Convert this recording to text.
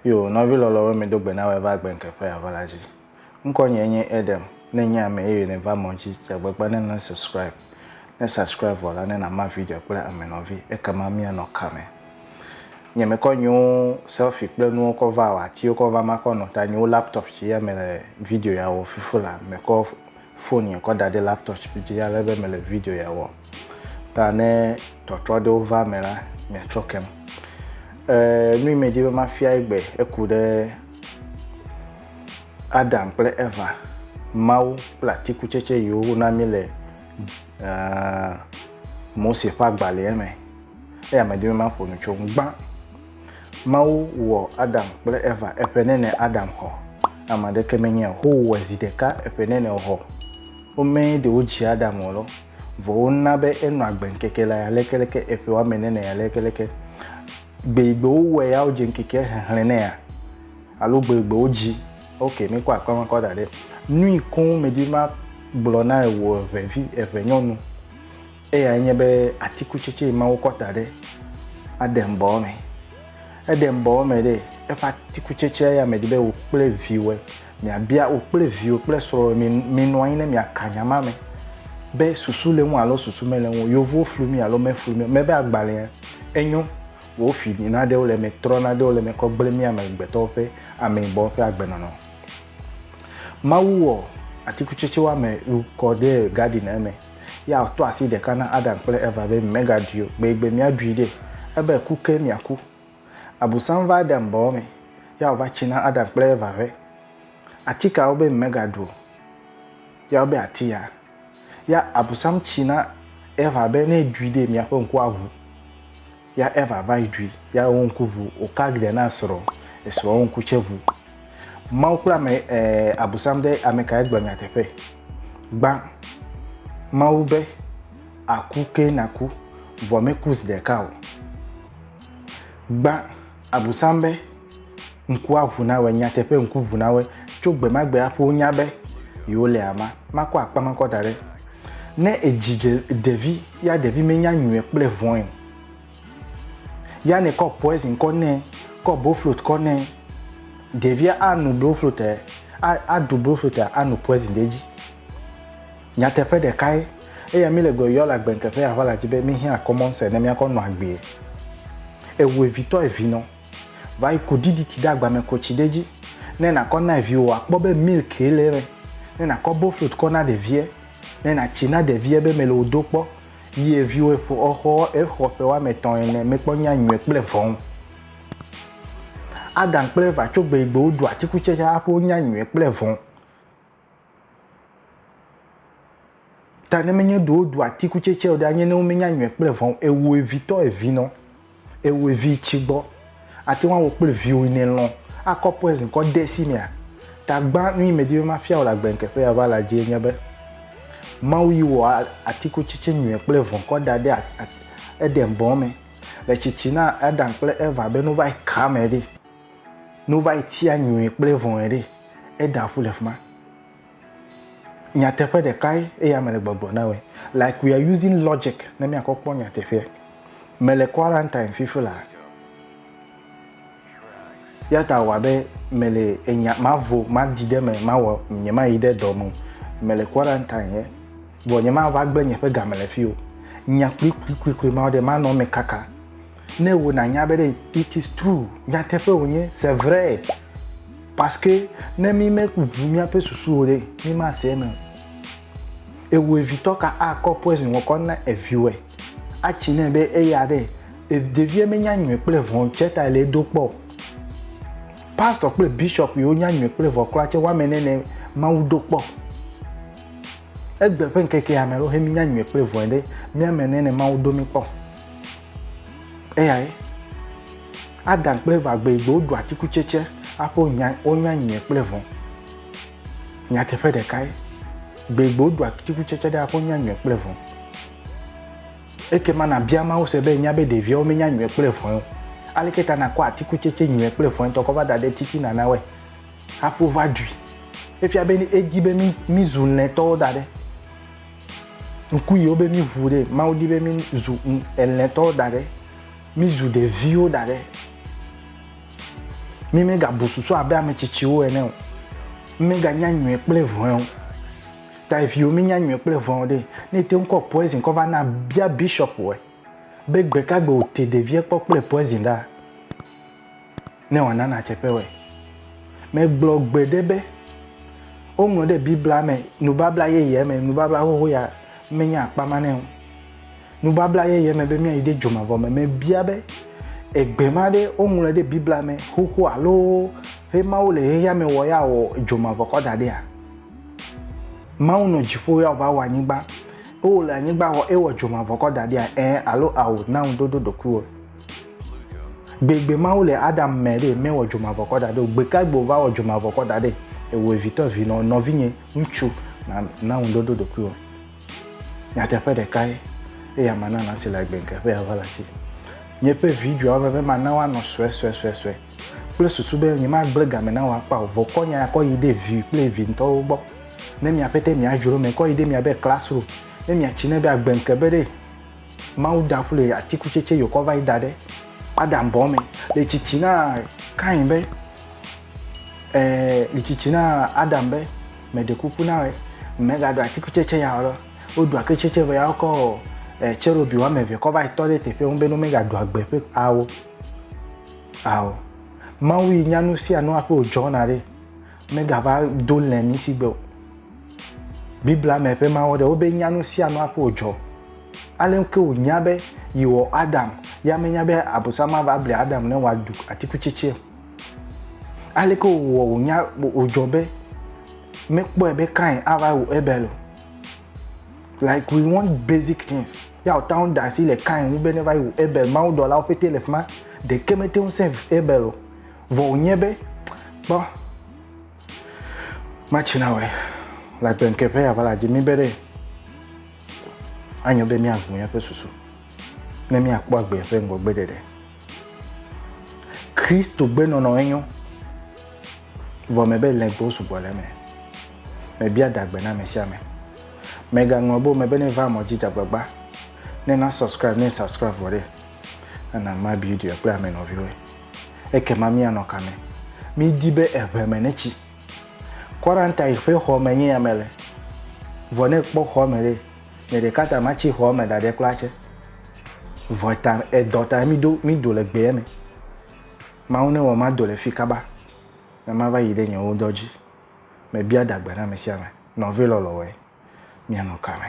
Yo, nɔvi lɔlɔwo mi do gbe na wɔ va gbe nke ƒe ava la dzi. Ŋkɔ nye nye Edem, ne nye ame eye ne va mɔ dzi, dzagbegba ne na subscribe. Ne subscribe vɔ la ne na ma video kple ame nɔvi, ekema mia nɔ ka me. Nye me kɔ nyewo selfie kple nuwo kɔ va wɔ atiwo kɔ va ma kɔ nɔ ta nyewo laptop ci ya me le video ya wɔ fifu la me kɔ fon ya kɔ da ɖe laptop dzi ale be mele video ya wɔm ta ne tɔtrɔ aɖewo va me la miatrɔ kem e, nu yi medi be mafia egbe eku ɖe adam kple eva mawu kple atikutsetse yiwo wona mi le uh, mose ƒe agbalẽa me eya medi be maƒo nu tso ŋu gbã Mawu wɔ Adam kple Eva eƒe nene Adam xɔ. Ame aɖeke menye o. Ho wɔe zi ɖeka eƒe nene xɔ. Womee ɖe wo dzi Adam o lɔ. Vɔ wo na be enɔ agbe ŋkeke la ya leke leke eƒe wame nene ya leke leke. Gbe yi gbe wo wɔe ya wo dze ŋkeke hehlẽ ne ya. Alo gbe yi gbe wo dzi. Ok, mi kɔ akpa ma kɔ da ɖe. Nui koŋ me di ma gblɔ na ewo eʋe vi eʋe nyɔnu. Eyae nye be atikutsetse ma wokɔ ta ɖe aɖe ŋbɔwɔ me. Eɖe ŋbɔwɔ me ɖe eƒe atikutsetsea ya me di be wò kple viwɔe miabia wò kple viwò kple srɔ̃wɔe minɔ anyi ne miaka nya ma me be susu le ŋu alo susu mele ŋu. Yevuwo flu mi alo meflu mi o. Mebe agbalẽa enyo wò fi naɖewo le eme, trɔ naɖewo le eme kɔ gblẽ mí amegbetɔwo ƒe ameyibɔwo ƒe agbenɔnɔ. Mawu wɔ atikutsetse woame wu kɔ ɖe gadin eme. Ya wòtɔ asi ɖeka na Adam kple Eva be mimegaɖui o, gbegbe miaɖui ɖe. Ebe ku ke miaku. Abusam va Adam bɔbɔ me. Ya wòva tsi na Adam kple Eva ƒe. Atika wobe mimegaɖu o. Ya wobe ati ya. Ya Abusam tsi na Eva be ne ɖui ɖe miaƒe ŋku aʋu. ya Eva va yi ɖui, ya wo ŋku ŋu, wòka glia na esrɔ̃, esrɔ̃ wo ŋku tsɛ ŋu. Mawu kple ame ɛɛ Abosam ɖe ame kae gblɔ nyateƒe? Gbã, Mawu be, Àku ke nàku, vɔ meku zi ɖeka o. Gbã, Abosam be, ŋku aʋu na wòe, nyateƒe ŋku ʋu na wòe. Tso gbe ma gbe hafi wonya be yewole ama. Makɔ akpa ma kɔ da ɖe. Ne edzi dze ɖevi ya ɖevi menya nyuie kple vɔ̃e o. Ya ne kɔ poison kɔ nɛ, kɔ broflot kɔ nɛ, ɖevia anu broflot e, aɖu broflot e anu poison ɖe edzi. Nyateƒe ɖeka ye. Eya mi le gbe yɔ le agbe ŋkeƒe ya ʋala dzi be mi hiã common sense ne miakɔ nɔ agbee. Ewu evitɔ evinɔ. Va yi ku DDT ɖe agba me, ku tsi ɖe edzi ne nàkɔ na viwò wòakpɔ be milk ye le eme. Ne nàkɔ boflot kɔ na ɖevia, ne nàtsi na ɖevia be mele wò do kpɔ yie viwò eƒo exɔ exɔ ƒe woame etɔ̃ ene mekpɔ nya nyuie kple vɔ̃. Adam kple Eva tso gbe yi gbe woɖu atikutsetse hafi wonya nyuie kple vɔ̃. Ta ne menye ɖe woɖu atikutsetse o ɖe, anye ne womenya nyɔe kple vɔ̃ o, ewòe vitɔ evinɔ, ewòe vi tsi gbɔ. Àte ŋu awɔ kple viwò yi nèlɔ̃ akɔ poison kɔ de esi mea? Ta gbã nu yi medi be mafia wò le agbenkeƒea va la dzie nye be, Mawu yi wɔ atikutsetse nyɔe kple vɔ̃ kɔ da ɖe Eden bɔ me le tsitsi na Adam kple Eva be nu va yi ka me ɖi. Ne wova yi tia nyui kple vɔ̃e ɖe, eɖea ƒu le fi ma. Nyateƒe ɖekae eya mele gbɔgblɔ na wòe. Like we are using logic ne míakɔ kpɔ nyateƒea. Mele quarantine fifi la. Ya ta wɔ abe mele enya mavo madi ɖe me mawɔ nyemayi ɖe dɔ me o. Mele quarantine ye. Vɔ nyemava gblẽ nye ƒe game le fi o. Nya kplikplikplikpli ma ɖe manɔ me kaka. Ne wo nanya be ɖe it is true nyateƒe wònye c'est vrai parce que ne mi meʋu míaƒe susuwo ɖe mi mase eme o. Ewu evitɔ ka akɔ poison wɔkɔ na eviwɔe atsi nɛ be eya ɖe ɖevia menya nyuie kple vɔ tse ta le edo kpɔ o. Pastor kple bishop yiwo nya nyuie kple vɔ kura tse woame ne ne Mawu do kpɔ. Egbe ƒe ŋkekea me ɖo he mi nya nyuie kple vɔe ɖe míame ne ne Mawu do mi kpɔ. eyae adam kple eva gbe gbe woɖu atikutsetse aƒe wonya wonya nyuie kple vɔ̃ nyateƒe ɖekae gbe gbe woɖu atikutsetse ɖe aƒe wonya nyuie kple vɔ̃ eke ma nabia mawo se be nya be ɖeviawo menya nyuie kple vɔ̃ o aleke ta nakɔ atikutsetse nyuie kple vɔ̃ tɔ kɔ va da ɖe titina na wɛ haƒo va ɖui efia be edi be mi mi zu lɛtɔwo da ɖe ŋku yiwo be mi ʋu ɖe mawu di be mi zu elɛ tɔwo da ɖe mi zu ɖeviwo da ɖe mi me ga bu susu abe ame tsitsiwo ene o mi me ga nya nyuie kple vɔe o ta eviwo mi nya nyuie kple vɔe o ɖe ne ete ŋu kɔ poison kɔ va na bia bishop wɔ be gbeka gbe o te ɖevia kpɔ kple poison ɖa ne wòana nàdze kpewɔe. Megblɔ gbeɖe be woŋlɔ ɖe Biblia me nubabla yeyea me, nubabla xoxo ya menye akpa ma ne o. Nubabla yeyea me be míayi ɖe dzomavɔ me. Mebia be egbe ma ɖe woŋlɔ ɖe Biblia me xoxo alo he Mawu le xexea me wɔ ya wɔ dzomavɔ kɔ da ɖea? Mawu nɔ dziƒo ya wòva wɔ anyigba. Ewɔ le anyigba wɔ ewɔ dzomavɔ kɔ da ɖea? Ɛ̃ alo ao na ŋuɖoɖo ɖokuiwò. Gbegbe Mawu le Adam mɛ ɖe mɛwɔ dzomavɔkɔ daɖɛ o. Gbeka gbe wòvawɔ dzomavɔkɔ daɖɛ ewevitɔ vi nɔ nɔvinye ŋutsu na na ŋuɖoɖo ɖokuiwò. Nyateƒe ɖeka ye eya mana nasi le agbe ŋke ƒe ya va le atsi. Nye ƒe vi ɖuia wɔ veve mana woanɔ sue sue sue sue kple susu be nye ma gble game na wò akpa o. Vɔkɔ nya ya kɔ yi ɖe vi kple vi ŋtɔwo gbɔ. Ne mia ƒete mia dzro mɛ kɔ yi ɖe mia be classroom ne mia tsi ne be agbe ŋke be ɖe. Mawu da ku le atikutsetse yokɔ va yi da ɖe Adam bɔ me. Le tsitsi na Kain be, eh, le tsitsi na Adam be, me ɖe kuku na wɔ, mega ɖu atikutsetse ya wɔ. Woɖu atikutsetse vɔ ya wokɔ eh, tserobi woame eve kɔ va yi tɔ ɖe teƒe ŋu be ne mega ɖu agbe ƒe awo. Ao. Mawu yi nya nu sia nu aƒe wòdzɔna ɖe. Megava do lɛ mi si gbe o. Biblia me ƒe mawo ɖe wobe nya nu sia nu aƒe wòdzɔ. Ale ke wònya be yewɔ Adam, ya menya be abosama va bli Adam ne wòaɖu atikutsetse o. Ale ke wòwɔ wònya wòdzɔ be mekpɔe be Kain ava wu Abel o. Like we want basic things. Ya wòta ŋu da asi le Kain ŋu be ne va yi wu Abel. Mawudɔlawo ƒete le fi ma. Ɖeke mete ŋu save Abel o. Vɔ wònye be, kpɔ, matsina wòe, le agbenke ƒe ya va la dzi mi be ɖe anyo be míaʋu míaƒe susu ne míakpɔ agbe ƒe ŋgɔgbe ɖeɖe. Kristo gbe nɔnɔ enyo, vɔ me be lɛgbewo sugbɔ le me. Mebia dagbe na ame sia ame. Megaŋlɔ bo me be ne va mɔ dzi dzagbagba, ne na subscribe ne subscribe vɔ ɖe, ana ma bi ɖe kple ame nɔviwoe. ekema míanɔ ka me? Mídi be eŋe me netsi. Quarantine ƒe xɔ me nye yame le. Vɔ ne ekpɔ xɔ me ɖe, nye ɖeka ta matsi xɔ me ɖaɖe kura tse. Vɔ ta edɔ ta mído mído le gbea me. Mawu ne wɔ mado le fi kaba ne mava yi ɖe nye wo dɔ dzi. Mebia dagbe na ame sia ame, nɔvi lɔlɔ̃woe, míanɔ ka me?